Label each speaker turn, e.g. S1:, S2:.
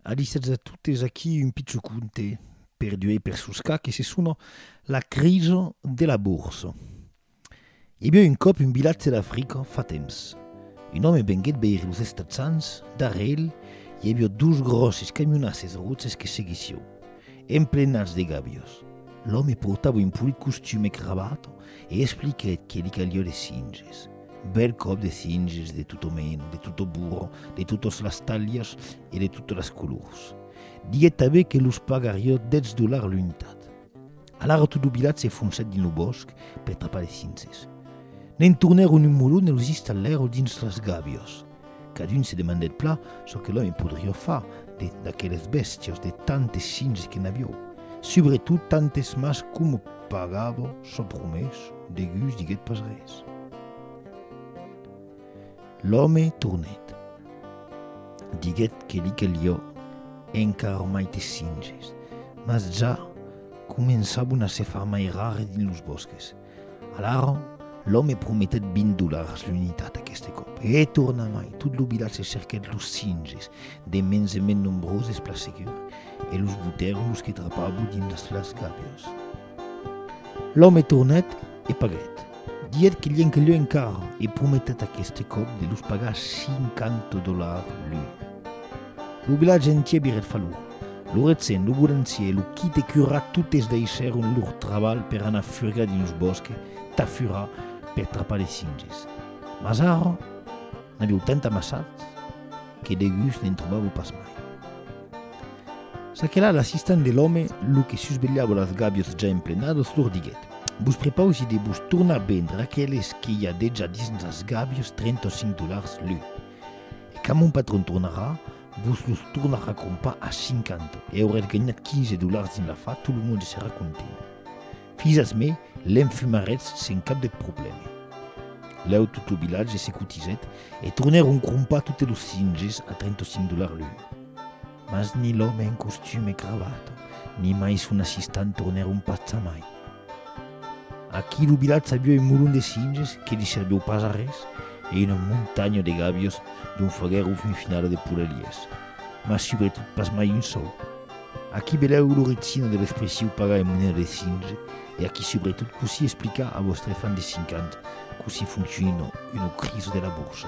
S1: Adisètz a totes, aquí un picho conte per duei per soscar que se sona La crisa de la borsa. I aviá un còp un vilatge d'Africa fa temps. Un òme venguèt veire los Estatsans, darrèr el i aviá dos gròsses camionasses roches que seguissieu, emplenats de gàbios. L'òme portava un polit costum e cravata e expliquèt que li caliá de cinges. Bèl còp de singes de tot o mena, de tot o burro, de totas las talhas e de totas las colors. Diguèt tanben que los pagarió dètz dolars l'unitat. Alara tot lo vilatge se foncèt dins lo bòsc per trapar de singes. Ne'n tornèron un molon e los installèron dins las gàbias. Cadun se demandèt plan çò que l'òme podriá far de d'aqueles bèstias, de tantes singes que n'avió, subretot tantes mas coma pagava çò promés, deguts diguèt pas res. L'òme tornèt. Diguèt que li calió encara maites singes, mas ja començavan a se far mai rares dins los bòsques. Alara, l'òme prometèt vint dolars l'unitat aqueste còp, e hè torna mai, tot lo vilatge cerquèt los singes, de mens en mens nombroses pla segur, e los botèron los que trapavo dins las las gàbias. L'òme tornèt e paguèt, diguèt que lienque leu encara, e prometèt aqueste còp de los pagar cinquanta dolars l'un. Lo vilatge entier virèt falur. Lo retzen, lo bourancier e lo qui te curra totes deishèron lor trabalh per anar furgar dins lo bòsque tà furar per trapar de singes. Mas ara, n'avieu tant amassat que de gust ne'n trobaveu pas mai. Ça que là, l'assistant de l'òme, lo que susvelhava las gaviots ja emplenadas, lor diguèt, Vos prepausi de vos tornar vendre aqueles que i a dejà dins las gaviots 35 dolars l'un. E quand mon patron tornarà, vos los tornarà crompar a 50 e aurètz ganhat 15 dolars dins l'afar, tot lo monde serà content. Fizas me, l'enfumarètz sen cap de problème. Lèu tot lo vilatge se cotizèt e tornèron crompar totes los cinges a 35 dolars l'un. Mas ni l'òme en costum e cravata, ni mai son assistant tornèron pas jamai. Aquí lo vilatge aviá un molon de singes que li serviu pas a res e una montanha de gavios dont faguèron fin finala de poleliers, mas subretot pas mai un sòu. Aquí velèu lo retina de l'expressiu pagar en moneda de singe e aquí subretot cossí explicar a vòstre fan de 5 ans cossí fonciona una crisa de la borsa.